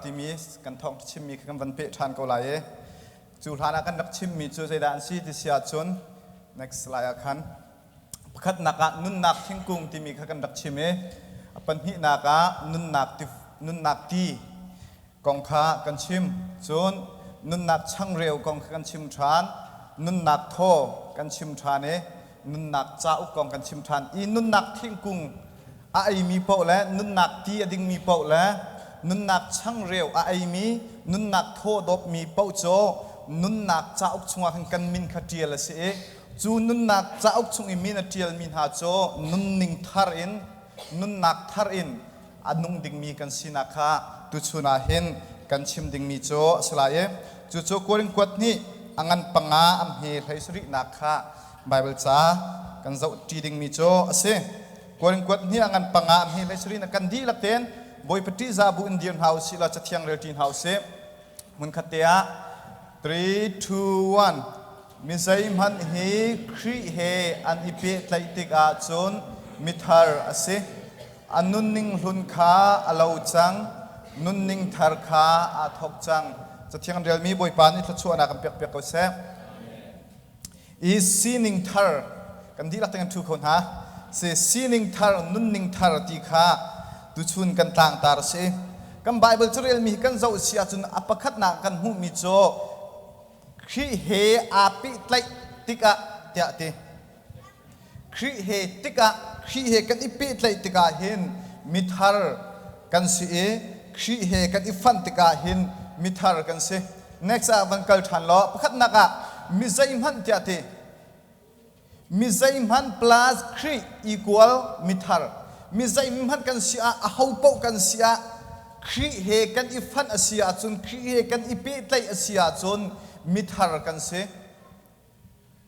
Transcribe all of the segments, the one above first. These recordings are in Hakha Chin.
timi kan thawng chimmi kha kan van peh ṭhan ko lai i cu hlan ah kan rak chimmi cu zeidah an si ti si ahcun next slide ah khan pakhatnak ah nunnak thingkung timi kha kan rak chim i a pahnihnak ah nunnak ti, nunnak ti kong kha kan chim cun nunnak changreu kong kha kan chim ṭhan nunnak thaw kan chim ṭhan i nunnak cauk kong kan chim ṭhan i nunnak thingkung a eimi paoh le nunnak ti a dingmi paoh le nunnak changreu a eimi, nunnak thaw dawpmi paoh cu nunnak cauk chungah khin kan min kha ṭial a si i cu nunnak cauk chung i min a ṭialmi hna cu nunning thar in, nunnak thar in a nung dingmi kan sinak kha tuchun ah hin kan chim dingmi cu a si lai i cucu Korin kuat nih a ngan panga an hme hlei sarihnak kha Baibal ca kan zohṭi dingmi cu a si. Korin kuat nih a ngan panga a hme hlei sarih na kan dihlak tein Bawipa ṭihza bu in dir hna u sih law cathiang rel ṭi hna u sih. Hmunkhat te ah 3, 2, 1 Mi zeihmanh hi Khrih he an i pehtlaih tikah cun mithar a si. A nunning hlun kha a lo cang, nunning thar kha aa thawk cang. Cathiang ṭialmi Bawipa nih thluachuahnak in pekpiak ko seh. I sining thar, kan dihlak tiang ṭhu kho hna. Si, sining thar, nunning thar ti kha tuchun kan tlangtar a si. Kan Baibal cu relmi hi kan zoh si ahcun a pakhatnak kan hmuhmi cu Khrih he aa pehtlaih tikah tiah ti. Khrih he tikah Khrih he kan i pehtlaih tikah hin mithar kan si i Khrih he kan i fanh tikah hin mithar kan si. Next ah van kal ṭhan law pakhatnak ah mi zeihmanh tiah ti mi zeihmanh plus Khrih equal mithar mi zeihmanh kan si ah aho paoh kan si ah Khrih he kan i fanh a si ahcun Khrih he kan i pehtlaih a si ahcun mithar kan si.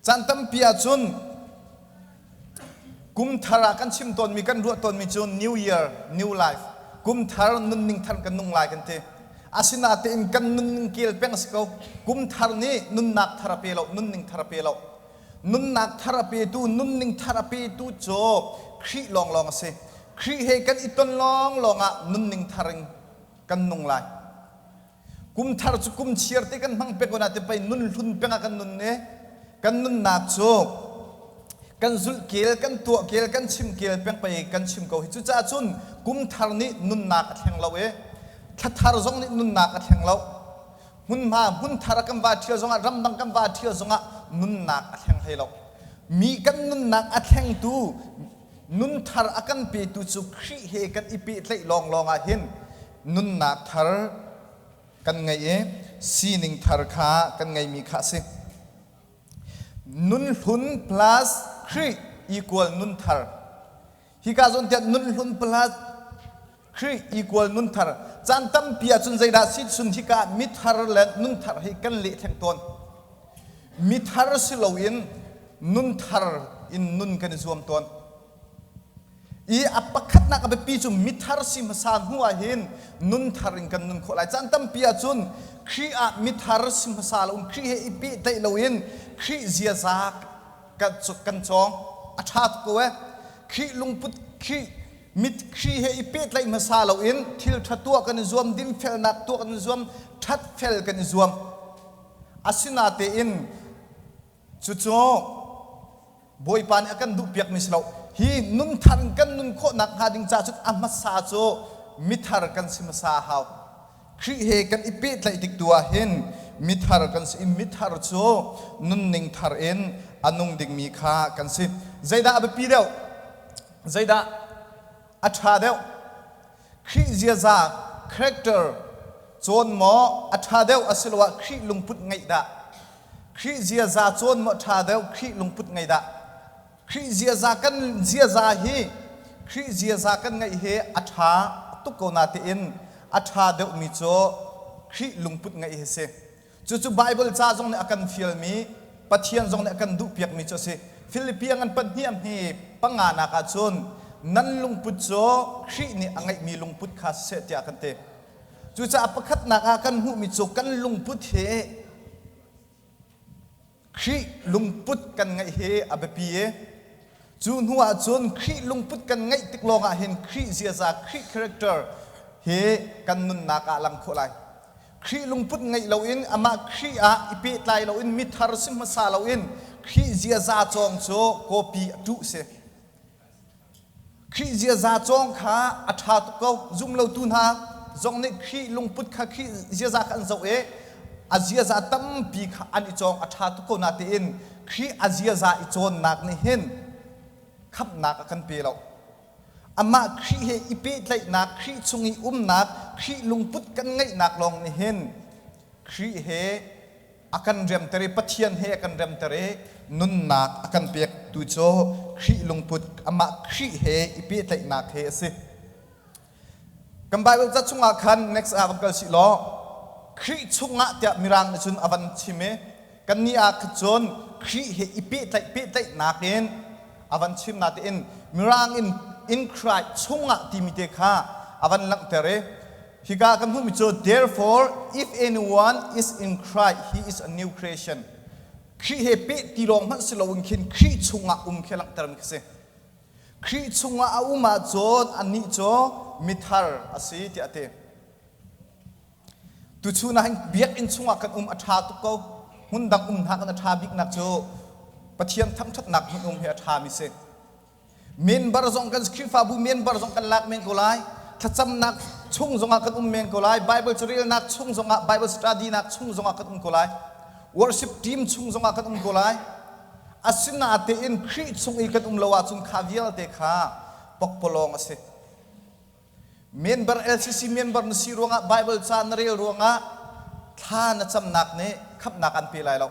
Caan tampi ahcun kumthar ah kan chim tawnmi, kan ruah tawnmi cu New Year, New Life, kumthar nunning thar kan nung lai kan ti. Asinatein kan nunning kel peng a si ko. Kumthar nih nunnak thar a pe lo, nunning thar a pe lo. Nunnak thar a petu, nunning thar a petu cu Khrih lawnglawng a si. Khrih he kan i ton lawnglawng ah nunning thar in kan nung lai. Kum thar cu kum chiar te kan hmang peng ko nain pei nunhlun peng ah kan nun ne kan nunnak cu kan zulhkel kan tuahkel kan chimkel peng pei kan chim ko hi cucaah cun kum thar nih nunnak a thleng lo i thla thar zong nih nunnak a thleng lo hmunhma hmun thar kan va ṭhial zongah ramdang kan va ṭhial zongah nunnak a thleng hlei lo mi kan nunnak a thlengtu nun thar a kan petu cu Khrih he kan i pehtlaih lawnglawng ah hin nunnak thar kan ngeih i sining thar kha kan ngeihmi kha a si. Nunhlun plus Khrih equal nun thar. Hika zon tiah nunhlun plus Khrih equal nun thar. Caan tampi ahcun zeidah si chun hika mithar le nun thar hi kan leh theng tawn. Mithar si loin nun thar in nun kan i zuam tawn. i a pakhatnak a biapi cu mithar si hmasa hnu ah hin nun thar in kan nun khawh lai caan tampi ahcun Khrih ah mithar si hmasa loin Khrih he i pehtlaih loin Khrih ziaza kan kan cawng a ṭha tuk ko e Khrih lungput Khrih mit Khrih he i pehtlaih hmasa loin thil ṭha tuah kan i zuam dingfelnak tuah kan i zuam ṭhat fel kan i zuam asinatein Cucu Bawipa nih a kan duhpiakmi si lo, hi nunthar kan nun khawh nakhnga ding caah cun a hmasa cu mithar kan si hmasa a hau. Khrih he kan i pehtlaih tik tu ah hin mithar kan si i mithar cu nunning thar in a nung dingmi kha kan si. Zeidah a biapi deuh? Zeidah a ṭha deuh? Khrih ziaza, character, cawn maw a ṭha deuh asiloah Khrih lungput ngeih dah? Khrih ziaza cawn maw ṭha deuh Khrih lungput ngeih dah? Khrih ziaza kan ziaza hi Khrih ziaza kan ngeih hi a ṭha tuk ko natein a ṭha deuhmi cu Khrih lungput ngeih hi si. Cucu Baibal ca zong nih a kan fialmi, Pathian zong nih a kan duhpiakmi cu a si. Filipi angn pahnih a hme panganak ahcun nan lungput cu Khrih nih a ngeihmi lungput kha siseh tiah a kan ti. Cucaah pakhatnak ah kan hmuhmi cu kan lungput hi Khrih lungput kan ngeih hi a biapi i cu hnu ahcun Khrih lungput kan ngeih tik lawngah hin Khrih ziaza, Khrih character hi kan nunnak ah a lang khawh lai. Khrih lungput ngeih loin amah Khrih ah i pehtlai loin mithar si hmasa loin Khrih ziaza cawng cu copy a tuh si. Khrih ziaza cawng kha a ṭha tuk ko. Zumlotu hna zong nih Khrih lungput kha Khrih ziaza kha an zoh i a ziaza tampi kha an i cawng a ṭha tuk ko natein Khrih a ziaza i cawnnak nih hin khamhnak a kan pe lo. Amah Khrih he i pehtlaihnak, Khrih chung i umnak, Khrih lungput kan ngeihnak lawng nih hin Khrih he a kan remter i Pathian he a kan remter i nunnak a kan pektu cu Khrih lungput, amah Khrih he i pehtlaihnak he a si. Kan Baibal ca chungah khan next ah van kal sih law Khrih chungah tiah Mirang nih cun a van chim i kannih ah khan cun Khrih he i pehtlaih pehtlaihnak in a van chim natein Mirang in in Christ chungah timi te kha a van langhter i Hika ka hmuhmi cu therefore if anyone is in Christ he is a new creation. Khrih he peh ti lawng hmanh si loin khin Khrih chungah um khi langhtermi khi si. Khrih chungah a um ahcun annih cu mithar a si tiah a ti. Tuchun ah biakinn chungah kan um a ṭha tuk ko. Hmun dang um hna kan a ṭha biknak cu Pathian thangṭhatnak hmun um hi a ṭhami si. Minbar zong kan Khrihfabu minbar zong kan lak men ko lai. Thlacamnak chung zongah kan um men ko lai. Bible carelnak chung zongah Bible studynak chung zongah kan um ko lai. Worship team chung zongah kan um ko lai. Asinatein Khrih chung i kan um lo ahcun kha vialte kha pokpolong a si. Member LCC member na si ruangah Bible ca na rel ruangah thla na camnak nih khamnak an pe lai lo.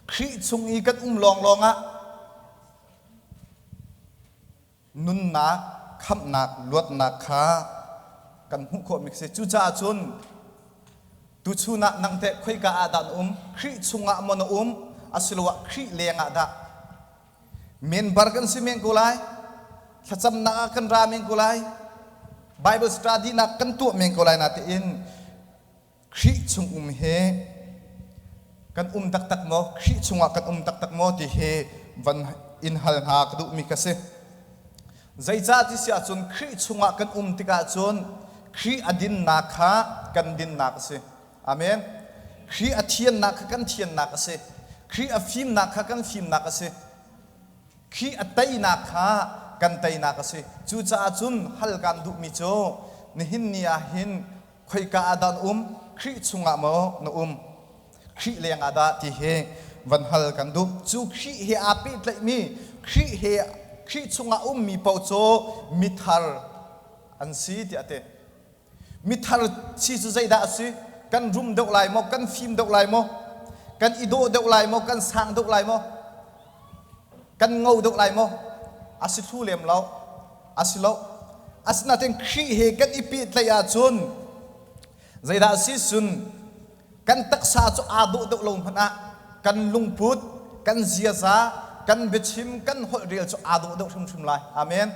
Khrih chung i kan um lawnglawng ah nunnak, khamhnak, luatnak kha kan hmuh khawh mi si. Cucaah cun tuchun ah nang teh khoika ah dah na um? Khrih chungah maw na um asiloah Khrih lengah dah? Member kan si men ko lai. Thlacamnak ah kan ra men ko lai. Bible study nak kan tuah men ko lai na tiin Khrih chung um hi kan um taktak maw? Khrih chungah kan um taktak maw ti hi van in hal hna ka duhmi ka si. Zeicah ti si ahcun Khrih chungah kan um tikah cun Khrih a dinnak kha kan dinnak a si. Amen. Khrih a thiannak kha kan thiannak a si. Khrih a fimnak kha kan fimnak a si. Khrih a teinak kha kan teinak a si. Cucaah cun hal kan duhmi cu nihin ni ah hin khoika ah dah na um, Khrih chungah maw na um, Khrih lengah dah ti hi van hal kan duh. Cu Khrih he aa pehtlaihmi, Khrih he Khrih chungah ummi paoh cu mithar an si tiah a ti. Mithar si cu zeidah a si? Kan rum deuh lai maw? Kan fim deuh lai maw? Kan i dawh deuh lai maw? Kan sang deuh lai maw? Kan ngo deuh lai maw? A si hlu lem lo. A si lo. Asinain Khrih he kan i pehtlaih ahcun zeidah a si? Cun kan taksa cu aa dawh deuh lo hmanh ah kan lungput, kan ziaza, kan biachim, kan holhrel cu aa dawh deuh hrimhrim lai. Amen!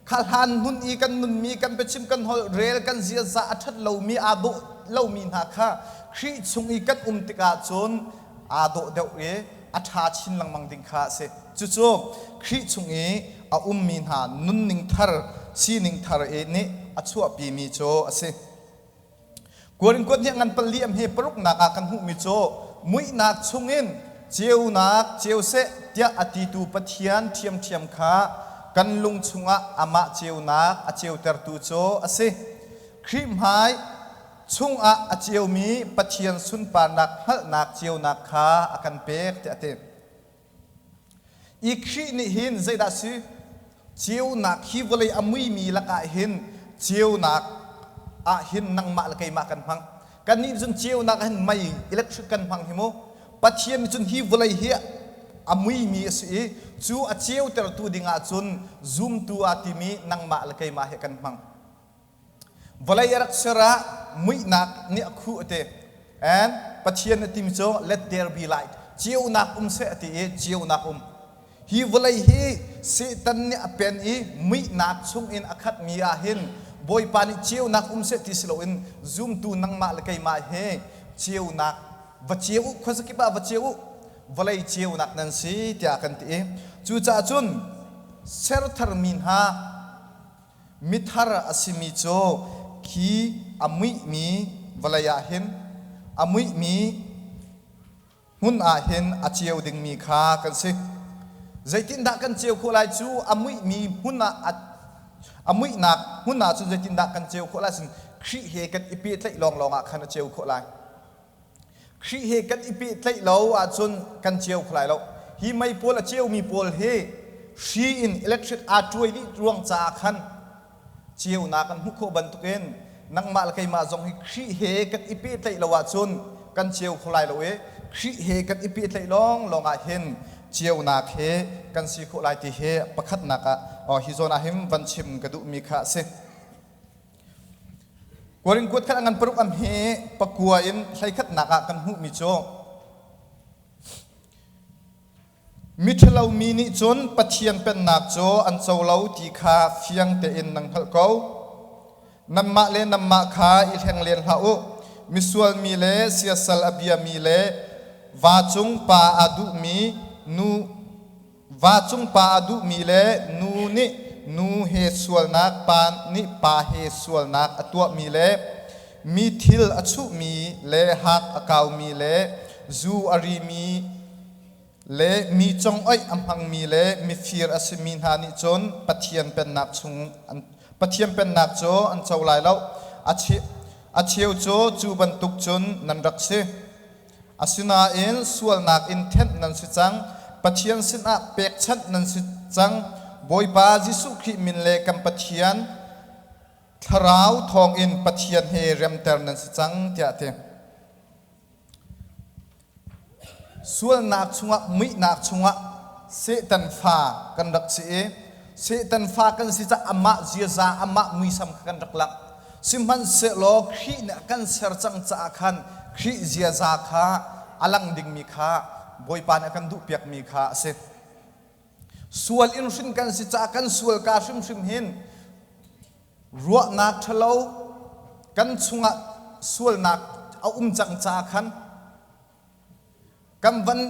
kha hlan hmun i kan nunmi kan biachim kan holh rel kan ziaza a ṭhat lomi aa dawh lomi hna kha Khrih chung i kan um tikah cun aa dawh deuh i a ṭha chin lengmang ding kha a si. Cucu Khrih chung i a ummi hna nunning thar, sining thar i nih a chuahpimi cu a si. Kuankuat nih ngan paliam he paruknak ah kan hmuhmi cu muihnak chungin ceunak ceu seh tiah a titu Pathian ṭhiamṭhiam kha kan lung chungah amah ceunak a ceutertu cu a si. Khrih hmai chungah a ceumi Pathian sunparnak hngalhnak ceunak kha a kan pek tiah a ti. I Khrih nih hin zeidah a si? Ceunak hi vawlei a muimi lakah hin ceunak ah hin nangmah le keimah kan hmang. Kannih cun ceunak ah hin mei, electric kan hmang hi mu. Pathian nih cun hi vawlei hi a muimi a si i cu a ceutertu ding ah cun zumtu aa timi nangmah le keimah he kan hmang. Vawlei a rak ser ah muihnak nih a khuh a ti. And Pathian a timi cu let there be light, ceunak um seh a ti i ceunak um. Hi vawlei hi Satan nih a pen i muihnak chungin a khatmi ah hin Bawipa nih ceunak um seh ti si loin zumtu nangmah le keimah he ceunak va ceu u, khuazakip ah va ceu u, vawlei ceunak nan si tiah kan ti i cucaah cun ser tharmi hna Mithar a simi cu khi a muihmi vawlei ah hin a muihmi hmun ah hin a ceu dingmi kha kan si. Zeitindah kan ceu khawh lai cu a muihmi hmun ah a, a muihnak hmun ah cun zeitindah kan ceu khawh lai sin Khrih he kan i pehtlaih lawnglawng ah khan a ceu khawh lai. Khrih he kan i pehtlaih lo ahcun kan ceu kho lai lo. Hi mei pawl a ceumi pawl hi hri in electric aa cuai dih ruang caah khan ceunak kan hmuh khawh bantukin nangmah le keimah zong hi Khrih he kan i pehtlaih lo ahcun kan ceu kho lai lo i Khrih he kan i pehtlaih lawnglawng ah hin ceunak he kan si khawh lai ti hi pakhatnak ah hi zawn ah hin van chim ka duhmi kha a si. Kuarin kuat khat a ngan paruk am hi pakua in hleikhatnak ah kan hmuhmi cu miṭhalo mi nih cun Pathian pennak cu an co lo ti kha fiang tein nan hngalh ko. Nanmah le nanmah kha i hleng len hlah u. Misual mi le siasal a biami le va cung pa aa duhmi nu Vacung pa a duhmi le nu nih nu he sualnak pa nih pa he sualnak a tuahmi le mi thil a chuhmi le hak a kaumi le zu a rimi le mi congoih a hmangmi le mifir a simi hna nih cun Pathian pennak chung an Pathian pennak cu an co lai lo a cheu cu cu bantuk cun nan rak si Asinain sualnak in thenh nan si cang, Pathian sinah pekchanh nan si cang, Bawipa Jesuh Khrih min le kan Pathian thlarau thawngin Pathian he remter nan si cang tiah a ti. Sualnak chungah muihnak chungah Satan fa kan rak si i Satan fa kan si caah amah ziaza, amah muisam kha kan rak langh. Sihmanhsehlaw Khrih nih a kan ser cang caah khan Khrih ziaza kha a lang dingmi kha Bawipa nih a kan duhpiakmi kha a si. Sual in hrin kan si caah kan sual kaa hrimhrim hin ruahnak ṭhalo kan chungah sualnak a um cang caah khan kan van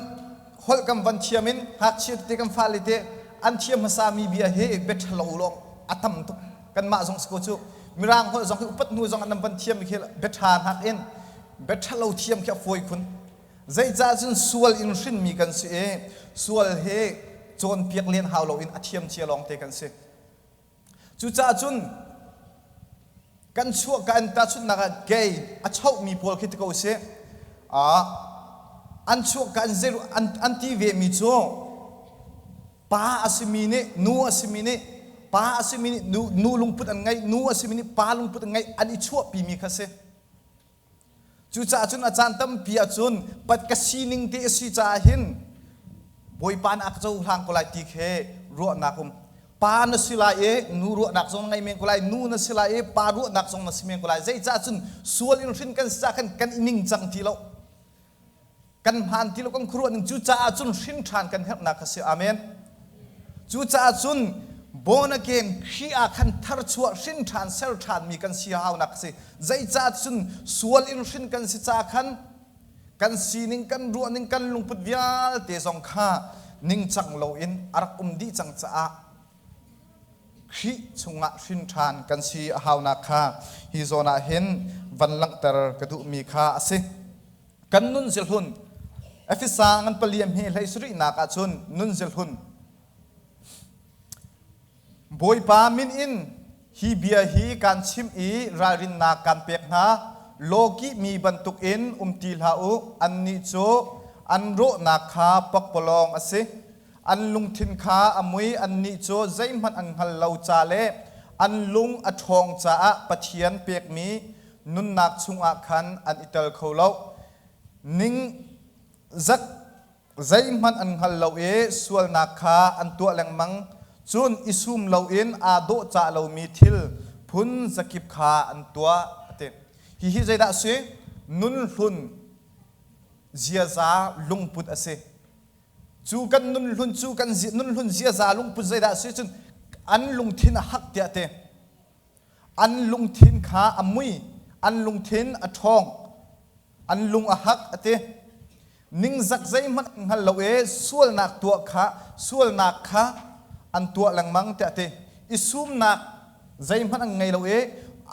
holh kan van thiam in ngakchia tete kan fale te an thiam hmasa mi bia he beṭhalo lawng a tam tuk kanmah zong siko cu mirang holh zong hi upat hnu zong an nan van thiam mi khi beṭha nak in beṭhalo thiam khi a fawi khun zeicah cun sual in hrinmi kan si i sual he cawnpiak len hau loin a thiamcia lawng te kan si Cucaah cun kan chuah kan tahchunhnak ah gay a chohmi pawl khi ti ko sih ah an chuah kan zeru an, an ti vemi cu pa a simi nih nu a simi nih pa a simi nih nu, nu lungput an ngeih nu a simi nih pa lungput an ngeih an i chuahpimi kha si Cucaah cun a caan tampi ah cun pat ka sining te a si caah hin Bawipa na ka cohlang ko lai ti khi ruahnak um. Pa na si lai i nu ruahnak zong na ngei men ko lai, nu na si lai i pa ruahnak zong na si men ko lai. Zeicah cun sual in hrin kan si cah khan kan i ningcang ti lo. kan hmaan ti lo kan khuaruah ning cu caah cun hrin ṭhan kan herhnak kha si amen cucaah cun born again Khrih ah khan tharchuah hrin ṭhan ser ṭhanmi kan si haunak a si zeicah cun sual in hrin kan si caah khan kan sining kan ruahning kan lungput vialte zong kha ningcang loin a rak um dih cang caah Khrih chungah hrin ṭhan kan si a haunak kha hi zawn ah hin van langhter ka duhmi kha a si. Kan nun ziahlun, Efesa ngan paliam hi hlei sarihnak ah cun nun ziahlun, Bawipa min in Hi bia hi kaan chimh i ralrinnak kaan pek hna, lawkih mi bantukin um ti hlah u, annih cu an rawhnak kha pakpalawng a si. An lungthin kha a mui, annih cu zeihmanh an hngal lo ca le an lung a ṭhawng caah Pathian pekmi nunnak chungah khan an i tel kho lo ning zat zeihmanh an hngal lo i sualnak kha an tuah lengmang, cun i sum loin aa dawhcah lomi thil phun zakip kha an tuah, a ti. Hihi zeidah a si? Nunhlun ziaza lungput a si. Cu kan nunhlun cu kan nunhlun ziaza lungput zeidah a si? Cun an lungthin a hak tiah a ti. an lungthin kha a mui an lungthin a ṭhawng an lung a hak a ti ningzak zeihmanh hngal lo i sualnak tuah kha sualnak kha an tuah lengmang tiah a ti i sumnak zeihmanh an ngei lo i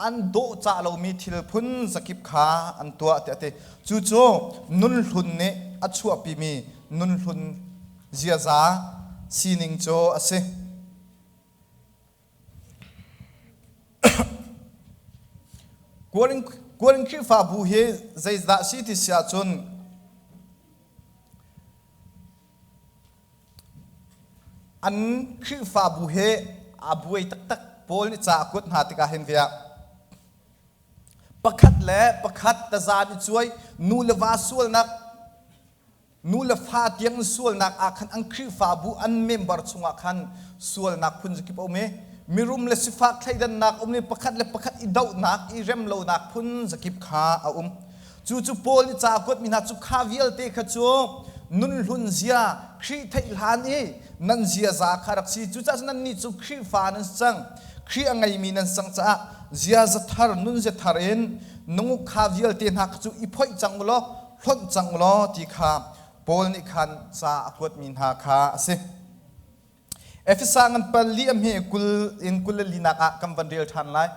an dawhcah lomi thil phun zakip kha an tuah tiah a ti cucu nunhlun nih a chuahpimi nunhlun ziaza sining cu a si Kualinn Khrihfabu hi zeidah a si ti si ahcun an Khrihfabu he aa buai taktak. Paul nih ca a kuat hna tikah hin ve ah pakhat le pakhat taza nih cuai nu le va sualnak Nu le fa tiang sualnak ah khan an Khrihfabu an member chungah khan sualnak phunzakip a um i mirum le sifak thleidannak um i pakhat le pakhat i dohnak i rem lonak phunzakip kha a um. Cucu Paul nih cakuat mi hna cu kha vialte kha cu nunhlun zia Khrih theih hlan i nan ziaza kha rak si cucaah cun nannih cu Khrihfa nan si cang Khrih a ngeimi nan cang caah ziaza thar nun zia thar in nunguk kha vialte hna kha cu i phoih cang u law hlonh cang law ti kha Paul nih khan ca a kuatmi hna kha a si. Efesa ngan pal li a hme kul in kul le linak ah kan van rel ṭhan lai.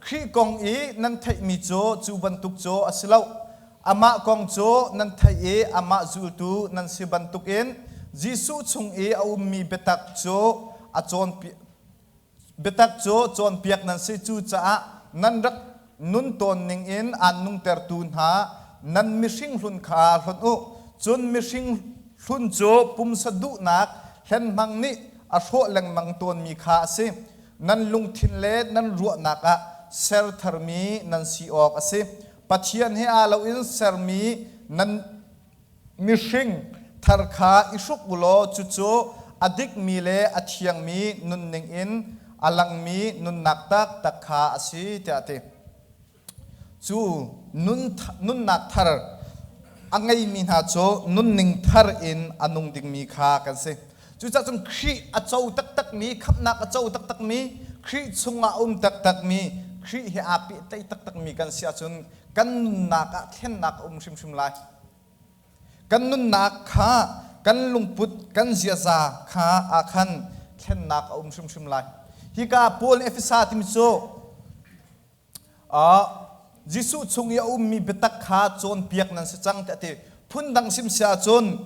Khrih kong i nan theihmi cu cu bantuk cu a si lo. Amah kong cu nan theih i amah zultu nan si bantukin Jesuh chung i a ummi biatak cu a cawnpi Biatak cu cawnpiak nan si, cucaah nan rak nun tawn ningin aan nungtertu hna, nan mihring hlun kha hlonh u, cun mihring hlun cu pumsa duhnak hlenhmang nih a hrawh lengmang tawnmi kha a si. Nan lungthin le nan ruahnak ah ser tharmi nan si awk a si. Pathian he aa loin sermi nan Mihring thar kha i hruk u law cucu a dikmi le a thiangmi nunning in a langmi nunnak taktak kha a si tiah a ti. Cu nunnak thar a ngeimi hna cu nunning thar in a nung dingmi kha kan si. Cucah cun Khrih a co taktakmi, khamhnak a co taktakmi, Khrih chungah a um taktakmi, Khrih he aa pehtlaih taktakmi kan si ahcun kan nunnak ah thlennak a um hrimhrim lai. Kan nunnak kha, kan lungput, kan ziaza kha aa khan thlennak a um hrimhrim lai. Hika Paul nih Efesa timi cu Jesuh chung i a ummi biatak kha cawnpiak nan si cang tiah a ti. Phundang sim si ahcun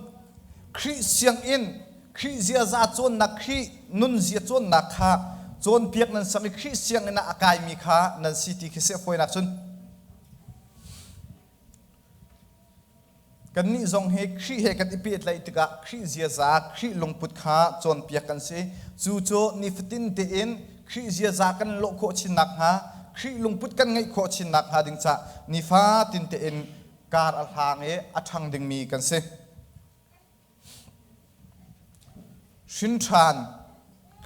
Khrih sianginn, Khrih ziaza cawnnak, Khrih nunzia cawnnak kha cawnpiak nan si i Khrih sianginn ah a kaimi kha nan si ti khi si a fawi nakcun Kannih zong hi Khrih he kan i pehtlaih tikah Khrih ziaza, Khrih lungput kha cawnpiak kan si. Cu cu nifatin tein Khrih ziaza kan lawh khawh chin nakhnga, Khrih lungput kan ngeih khawh chin nakhnga ding cah nifatin tein kar a hlang i a ṭhang dingmi kan si. Hrinṭhan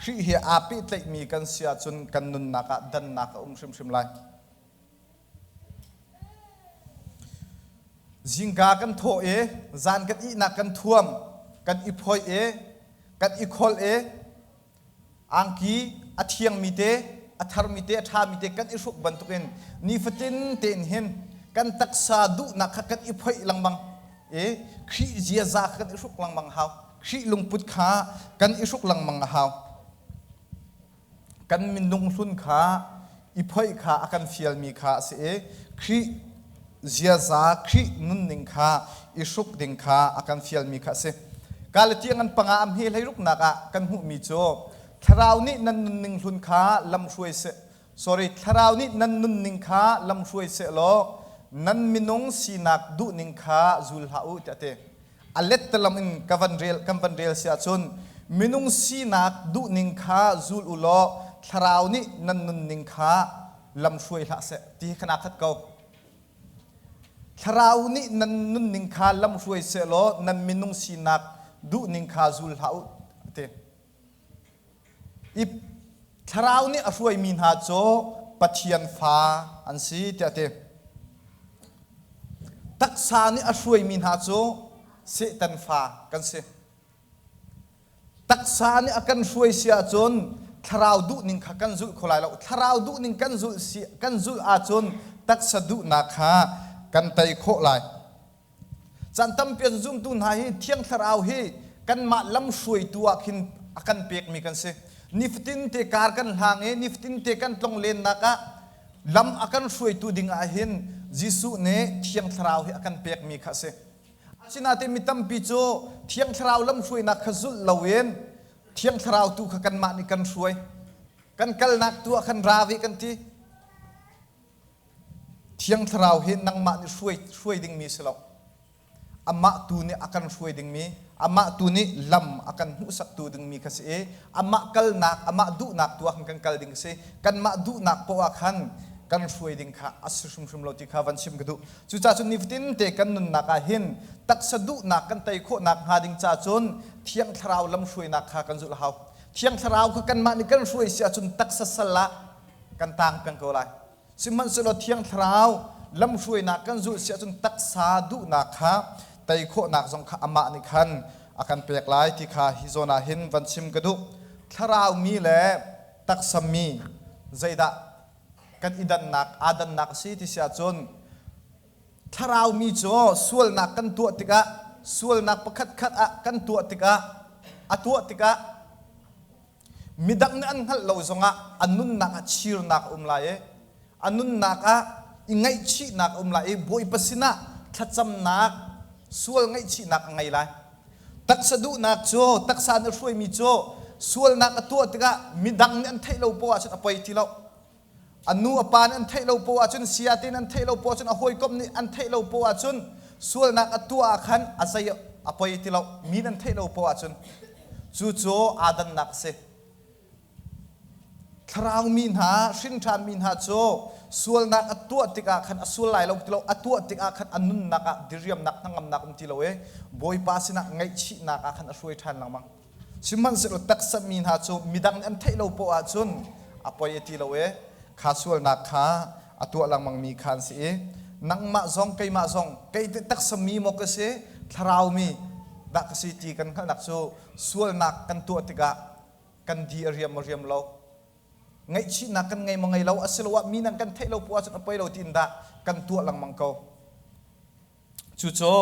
Khrih he aa pehtlaihmi kan si ahcun kan nunnak ah dannak a um hrimhrim lai. Zingka kan thawh i zan kan ihnak kan thuam, kan i phoih i kan i kholh i angki a thiangmi te, a tharmi te, a ṭhami te kan i hruk bantukin nifatin tein hin kan taksa duhnak kha kan i phoih lengmang i Khrih ziaza kha kan i hruk lengmang a hau. Khrih lungput kha kan i hruk lengmang a hau. kan minung hlun kha i phoih kha a kan fialmi kha a si i Khrih ziaza Khrih nunning kha i hruk ding kha a kan fialmi kha a si. Galatia ngan panga a hme hlei ruknak ah kan hmuhmi cu thlarau nih nan nunning hlun kha lamhruai seh sorry thlarau nih nan nunning kha lamhruai seh law nan minung sinak duhning kha zul hlah u tiah a ti. a let te lam in ka van rel kan van rel si ahcun minung sinak duhning kha zul u law thlarau nih nan nunning kha lamhruai hlah seh ti hi khana khat ko thlarau nih nan nunning kha lamhruai seh law nan minung sinak duhning kha zul hlah u ti Thlarau nih a hruaimi hna cu Pathian fa an si tiah a ti. Taksa nih a hruaimi hna cu Satan fa kan si. Taksa nih a kan hruai si ahcun thlarau duhning kha kan zulh kho lai lo. Thlarau duhning kan zulh si kan zulh ahcun taksa duhnak kha kan tei khawh lai. Caan tampi an zumtu hna hi Thiang Thlarau hi kanmah lamhruaitu ah khin a kan pekmi kan si. Nifatin te kar kan hlang i nifatin te kan tlong lennak ah lam a kan hruaitu ding ah hin Jesuh nih Thiang Thlarau hi a kan pekmi kha a si. Asinain mi tampi cu Thiang Thlarau lamhruainak kha zulh loin Thiang Thlarau tu kha kanmah nih kan hruai. Kan kalnak tu ah khan ra ve kan ti. Thiang Thlarau hi nangmah nih hruai, hruai dingmi si lo. Amah tu nih a kan hruai dingmi, amah tu nih lam a kan hmuhsaktu dingmi ka si i amah kalnak, amah duhnak tu ah khan kan kal ding ka si. Kanmah duhnak poah khan kan hruai ding kha a si hrimhrim lo ti kha van chim ka duh. Cucaah cu nifatinte kan nunnak ah hin taksa duhnak kan tei khawh nakhnga ding ca cun Thiang Thlarau lamhruainak kha kan zulh a hau. Thiang Thlarau kha kanmah nih kan hruai si ahcun taksa sal ah kan tang peng ko lai. Sihmanhsehlaw Thiang Thlarau lamhruainak kan zulh si ahcun taksa duhnak kha tei khawhnak zong kha amah nih khan a kan pek lai ti kha hi zawn ah hin van chim ka duh. Thlaraumi le taksammi zeidah kan i dannak aa dannak a si ti si ahcun Thlaraumi cu sualnak kan tuah tikah sualnak pakhatkhat ah kan tuah tikah a tuah tikah Midang nih an hngalh lo zongah a nunnak ah chirnak a um lai i a nunnak ah i ngaihchihnak a um lai i Bawipa sinah thlacamnak, sual ngaihchihnak a ngei lai. Taksa duhnak cu taksa nih a hruaimi cu sualnak a tuah tikah midang nih an theih lo poah ahcun a poi ti lo. an nu a pa nih an theih lo poah ahcun saya te nih an theih lo poah ahcun a hawikom nih an theih lo poah ahcun sualnak a tuah ah khan a zei a poi ti lo mi nan theih lo poah ahcun cu cu adannak a si thlarau mi hna hrinṭhan mi hna cu sualnak a tuah tikah khan a sual lai lo ti lo a tuah tikah khan a nunnak ah diriamnak hnangamnak um ti lo i bawipa sinah ngaihchihnak ah khan a hruai ṭhan lengmang Sihmanhsehlaw taksa mi hna cu midang nih an theih lo poah ahcun a poi a ti lo i kha sualnak kha a tuah lengmangmi kha an si i nangmah zong keimah zong kei nih taksa mi maw ka si, thlarau mi dah ka si ti kan hngalhnak cu sualnak kan tuah tikah kan di a riam a riam lo. Ngaihchihnak kan ngei maw ngei lo asiloah mi nang kan theih lo poah ahcun a poi lo ti in dah kan tuah lengmang ko. Cucu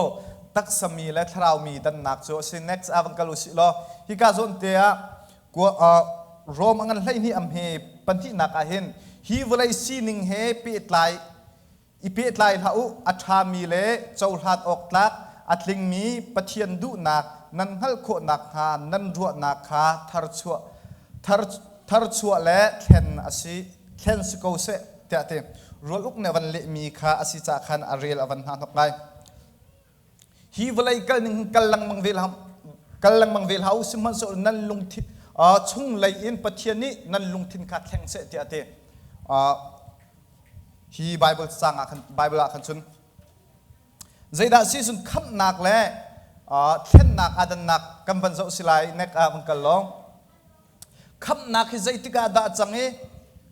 taksami le thlaraumi dannak cu a si. Next ah van kal usih law, hika zawnte ah Rome a ngan hleihnih am he pahnihnak ah hin hi vawlei sining he pehtlai i pehtlai hlah u, a ṭhami le cohlan awktlak, a tlingmi Pathian duhnak nan hngalh khawh nakhnga nan ruahnak kha tharchuah Tharchuah le thlen a si. Thlen si ko seh tiah ti. Rualuk nih a van lehmi kha a si caah khan a rel a van hna hnok ngai. Hi vawlei kal ning kal lengmang ve kal lengmang ve hlah u sihmanhsehlaw nan lungthin chung lei in Pathian nih nan lungthin kha thleng seh tiah ti. Hi Bible cang ah khan Bible ah khan cun Zeidah season khamhnak le thlennak aa dannak kan van zoh si lai nek ah vun kal law khamhnak hi zeitik ah dah cang i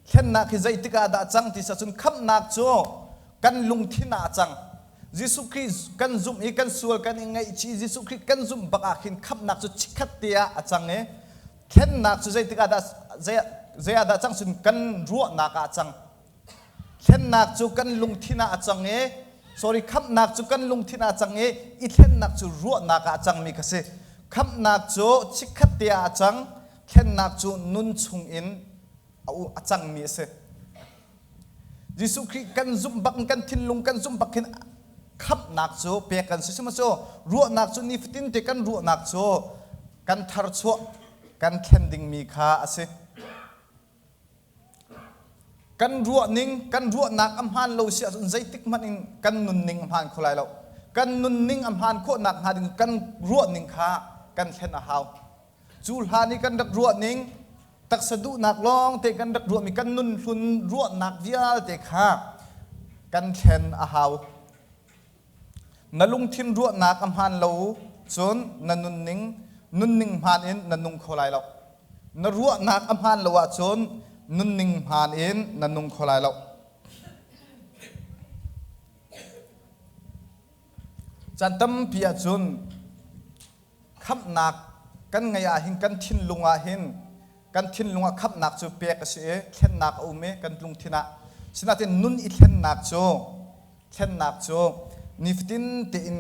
thlennak hi zeitik ah dah cang ti cun khamhnak cu kan lungthin ah cang Jesuh Khrist kan zumh i kan sual kan i ngaihchih Jesuh Khrist kan zumh bak ah khin khamhnak cu chikkhat te ah a cang i thlennak cu zeitik ah dah zei ah dah cang cun kan ruahnak ah a cang Thlennak cu kan lungthin ah a cang i sorry khamhnak cu kan lungthin ah a cang i i thlennak cu ruahnak ah a cangmi kha si. Khamhnak cu chikkhat te ah a cang, thlennak cu nun chung in a cangmi a si. Jesuh Khrih kan zumh bak in kan thinlung kan zumh bak hin khamhnak cu pek kan si sihmahcaw ruahnak cu nifatin te kan ruahnak cu kan tharchuah kan thlen dingmi kha a si. kan ruahning kan ruahnak a hmaan lo si ahcun zeitik hmanh in kan nunning a hmaan kho lai lo kan nunning a hmaan khawh nakhnga ding kan ruahning kha kan thlen a hau cu hlan i kan rak ruahning taksa duhnak lawngte kan rak ruahmi kan nunhlun ruahnak vialte kha kan thlen a hau Na lungthin ruahnak a hmaan lo cun na nunning nunning hmaan in na nung kho lai lo. Na ruahnak a hmaan lo ahcun nunning hmaan in na nung kho lai lo. Can tampi ahcun khamhnak kan ngeih ahhin kan thinlung ahhin kan thinlung ah khamhnak cu pek a si i thlennak a um i kan lungthin ah sinain nun i thlennak cu thlennak cu nifatin tein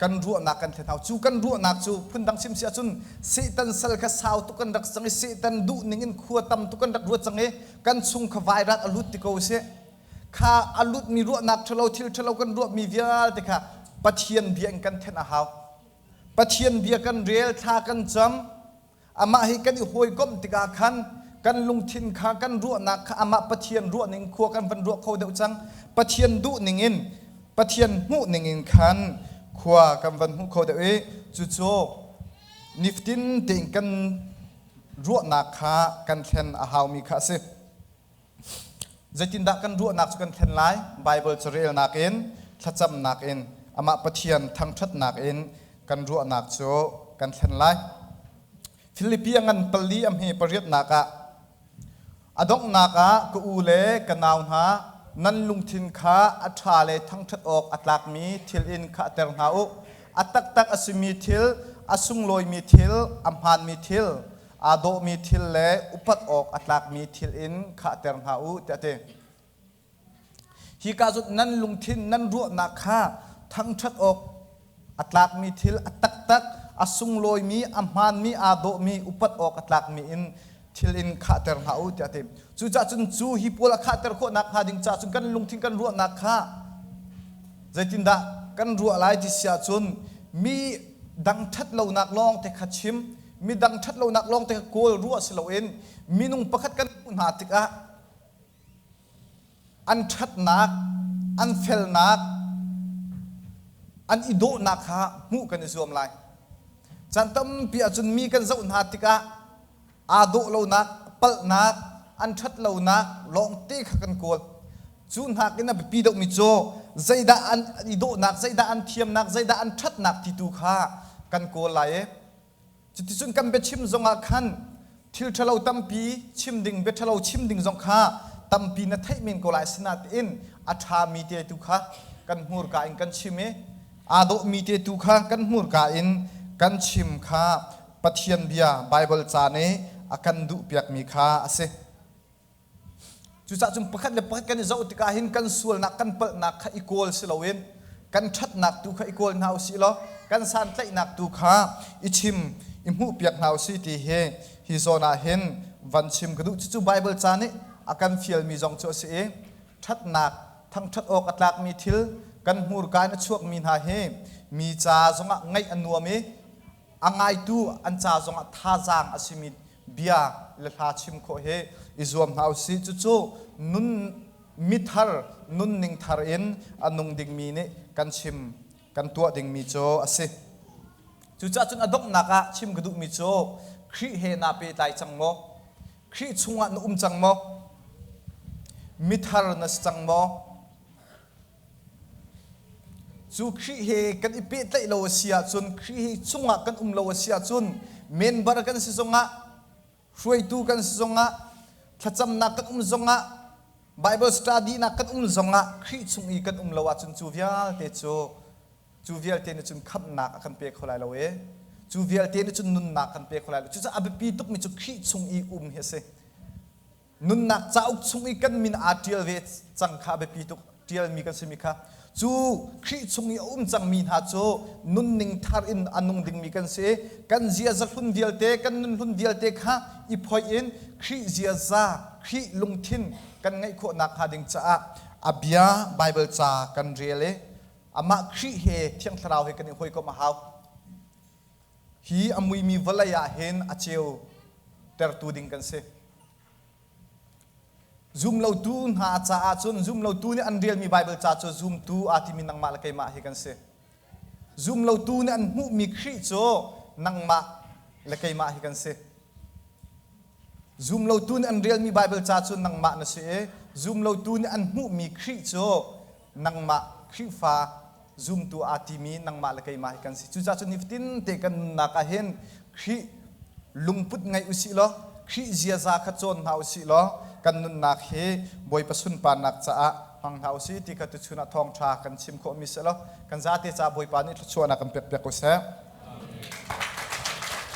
kan ruahnak kan thlen hau cu kan ruahnak cu phundang sim si ahcun Satan sal kha sau tuk kan rak cang i Satan duhning in khua tam tuk kan rak ruat cang i kan chung kha vairat a lut ti ko a si kha a lutmi ruahnak ṭhalo thil ṭhalo kan ruahmi vialte kha Pathian bia in kan thenh a hau. Pathian bia kan rel, thla kan cam, amah hi kan i hawikomh tikah khan kan lungthin kha, kan ruahnak kha amah Pathian ruahning khua kan van ruah kho deuh cang. Pathian duhning in, Pathian hmuhning in khan khua kan van hmuh kho deuh i cucu niftin tein kan ruahnak kha kan thlen a haumi kha a si. Zeitindah kan ruahnak cu kan thlen lai? Baibal cu relnak in, thlacamnak in, amah Pathian thangṭhatnak in kan ruahnak cu kan thlen lai. Filipi a ngan pali a hme pariatnak ah, a donghnak ah ka u le ka nau hna, nan lungthin kha a ṭha le thangṭhat awk a tlakmi thil in khahter hna u. A taktak a simi thil, a sunglawimi thil, a hmaanmi thil, aa dawhmi thil le upat awk a tlakmi thil in khahter hna u tiah a ti. Hika zot nan lungthin nan ruahnak kha thangṭhat awk a tlakmi thil a taktak a sunglawimi a hmaanmi aa dawhmi upat awk a tlakmi in thil in khahter hna u tiah a ti. Cucaah cun cu hi pawl a khahter khawhnak hnga ding caah cun kan lungthin kan ruahnak kha zeitindah kan ruah lai ti si ahcun mi dang ṭhat lonak lawng te kha chim midang ṭhatlonak lawngte kha kawl ruah si loin minung pakhat kan hmuh hna tikah an ṭhatnak, an felnak, an i dawhnak kha hmuh kan i zuam lai. Caan tampi ahcun mi kan zoh hna tikah aa dawh lonak, palhnak, an ṭhat lonak lawngte kha kan kawl. Cu hnak in a biapi deuhmi cu zeidah an i dawhnak, zeidah an thiamnak, zeidah an ṭhatnak ti tu kha kan kawl lai i Cuticun kan biachim zongah khan thil ṭhalo tampi chim ding, bia ṭhalo chim ding zong kha tampi na theih men ko lai. Asinain a ṭhami te tu kha kan hmurka in kan chim i aa dawhmi te tu kha kan hmurka in kan chim kha Pathian Bia, Baibal ca nih a kan duhpiakmi kha a si. Cucah cun pakhat le pakhat kan i zoh tikah hin kan sualnak kan palhnak kha i kawl si loin kan ṭhatnak tu kha i kawl hna u sih law kan santlaihnak tu kha i chim i hmuhpiak hna u sih ti hi hi zawn ah hin van chim ka duh cucu Baibal ca nih a kan fialmi zong cu a si i ṭhatnak thangṭhat awk a tlakmi thil kan hmurka in a chuakmi hna hi mi ca zongah ngaih a nuam i a ngaitu an ca zongah thazaang a simi bia le hla chim khawh hi i zuam hna usih. Cucu nun mithar, nunning thar in a nung dingmi nih kan chim, kan tuah dingmi cu a si. Cucaah cun a donghnak ah chim ka duhmi cu Khrih he naa pehtlai cang maw? Khrih chungah na um cang maw? Mithar na si cang maw? Cu Khrih he kan i pehtlaih lo a si ahcun, Khrih hi chungah kan um lo a si ahcun, member kan si zongah, hruaitu kan si zongah, thlacamnak kan um zongah, Bible study-nak kan um zongah Khrih chung i kan um lo ahcun cu vialte cu cu vialte nih cun khamhnak a kan pe kho lai lo i cu vialte nih cun nunnak kan pe kho lai lo. Cucaah a biapi tukmi cu Khrih chung i um hi a si. nunnak cauk chung i kan min aa ṭial ve cang kha a biapi tuk. Ṭialmi kan simi kha cu Khrih chung i a um cangmi hna cu nunning thar in a nung dingmi kan si. Kan ziazahlun vialte, kan nunhlun vialte kha i phoih in Khrih ziaza, Khrih lungthin kan ngeih khawh nakhnga ding caah a Bia, Baibal ca kan rel i amah Khrih he thiang thlarau he kan i hawikomh a hau. hi a muimi vawlei ah hin a ceu tertu ding kan si. Zumlotu hna caah cun zumlotu nih an rialmi Baibal ca cu zumtu aa timi nangmah le keimah hi kan si. Zumlotu nih an hmuhmi Khrih cu nangmah le keimah hi kan si. Zumlotu nih an rialmi Baibal ca cu nangmah na si i zumlotu nih an hmuhmi Khrih cu nangmah Khrihfa zumtu aa timi nangmah le keimah hi kan si. Cucaah cu nifatin te kan nunnak ah hin Khrih lungput ngei usih law, Khrih ziaza kha cawn hna usih law, kan nunnak hi Bawipa sunparnak caah hmang hna usih ti kha tuchun ah thawngṭha kan chim khawhmi si law, kan zate caah Bawipa nih thluachuahnak in pekpiak usih.